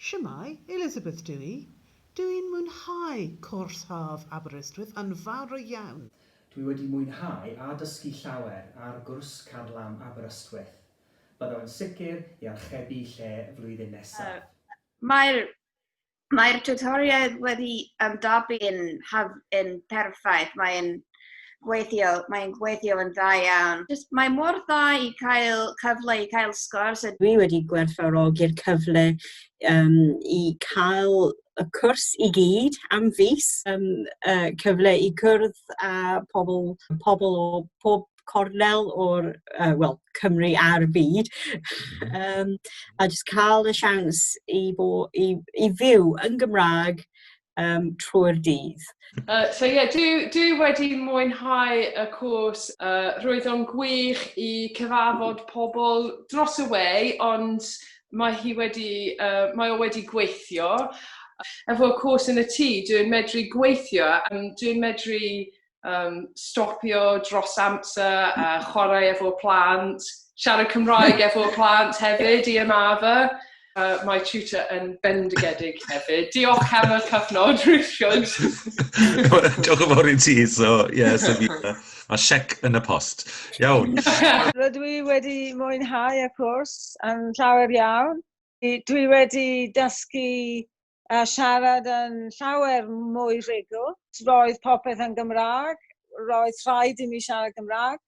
Shwmae, Elizabeth dw i. Dw i'n mwynhau cwrs haf Aberystwyth yn fawr iawn. Dwi wedi mwynhau a dysgu llawer ar gwrs Car Lamb Aberystwyth. Byddaf yn sicr i archebu lle flwyddyn nesaf. Mae'r Mae'r tiwtoriaid wedi ymdopi yn, yn perffaith, mae'n gweithio, mae'n gweithio yn dda iawn. Just, mae mor dda i cael cyfle i cael sgwrs. Dwi wedi gwerthfawrogi'r cyfle um, i cael y cwrs i gyd am fus, um, uh, cyfle i cwrdd â pobl, pobl o pob cornel o'r, uh, wel, Cymru a'r byd, um, a jyst cael y siawns i, bo, i, i fyw yn Gymraeg um, trwy'r dydd. Uh, so ie, yeah, dwi, dwi wedi mwynhau y cwrs. Uh, roedd o'n gwych i cyfarfod pobl dros y wei, ond mae hi wedi, uh, mae o wedi gweithio. Efo cwrs yn y tŷ, dwi'n medru gweithio, a dwi'n medru um, stopio dros amser a chwarae efo plant, siarad Cymraeg efo plant hefyd i ymafa. Uh, mae tutor yn bendigedig hefyd. Diolch am y cyfnod, Richard. Diolch yn fawr i ti, so, ie, yeah, so fi, mae siec yn y post. Iawn. Rydw i wedi mwynhau y cwrs yn llawer iawn. Dwi wedi dysgu a siarad yn llawer mwy rhugl. Roedd popeth yn Gymraeg, roedd rhaid i mi siarad Gymraeg.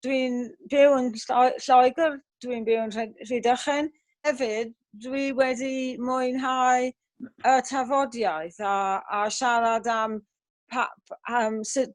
Dwi'n byw yn Lloegr, dwi'n byw yn Rhydychen. Hefyd, dwi wedi mwynhau y tafodiaith a, a siarad am, pa, am sut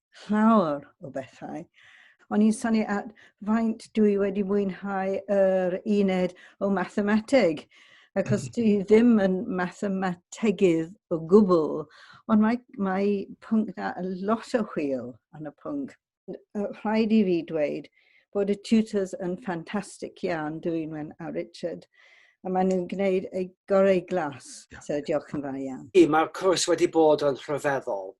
llawer o bethau. O'n i'n sanu at faint dwi wedi mwynhau yr uned o mathemateg, achos mm. dwi ddim yn mathemategydd o gwbl, ond mae, mae pwnc na lot o hwyl yn y pwnc. Rhaid i fi dweud bod y tutors yn ffantastig iawn, Dwynwen a Richard a maen nhw'n gwneud ei gorau glas. So diolch yn fawr iawn. Mae'r cwrs wedi bod yn rhyfeddol.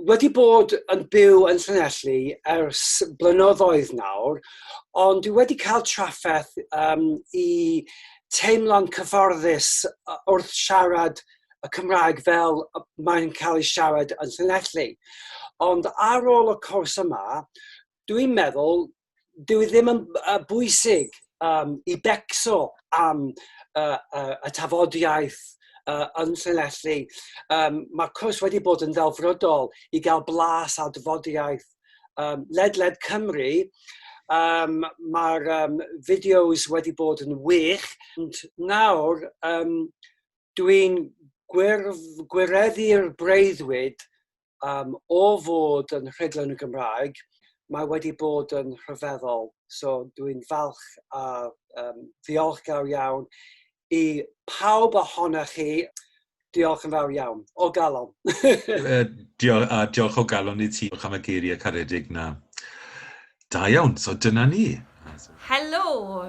wedi bod yn byw yn Llanelli ers blynyddoedd nawr, ond dwi wedi cael trafferth um, i teimlo'n cyfforddus wrth siarad y Cymraeg fel mae'n cael ei siarad yn Llanelli. Ond ar ôl y cwrs yma, dwi'n meddwl dyw e ddim yn uh, bwysig um, i becso am uh, uh, y tafodiaeth uh, yn Llanelli. Um, mae cwrs wedi bod yn ddelfrydol i gael blas ar dyfodiaeth um, ledled Cymru. Um, Mae'r um, fideos wedi bod yn wych. Ond nawr, um, dwi'n gwireddu'r breuddwyd um, o fod yn rhedlon y Gymraeg, mae wedi bod yn rhyfeddol. So dwi'n falch a um, ddiolchgar iawn i pawb ohonoch chi. Diolch yn fawr iawn, o galon. diolch, a diolch o galon i ti, diolch am y geiriau caredig na. Da iawn, so dyna ni. Helo,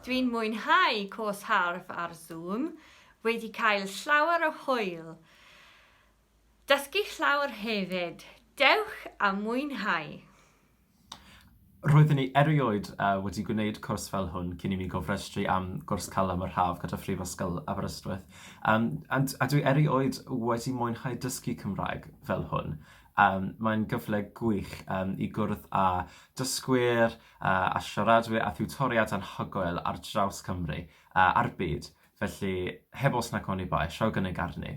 dwi'n mwynhau cwrs harf ar Zoom, wedi cael llawer o hwyl. Dysgu llawer hefyd. Dewch a mwynhau! Roeddwn i erioed wedi gwneud cwrs fel hwn cyn i mi gofrestru am gwrs Calem yr Haf gyda Phrifysgol Aberystwyth, a dwi erioed wedi mwynhau dysgu Cymraeg fel hwn. Mae'n gyfle gwych i gwrdd â dysgwyr a siaradwyr a thiwtoriaid anhygoel ar draws Cymru a'r byd, felly heb os nac oni bai, rhowch gynnig arni!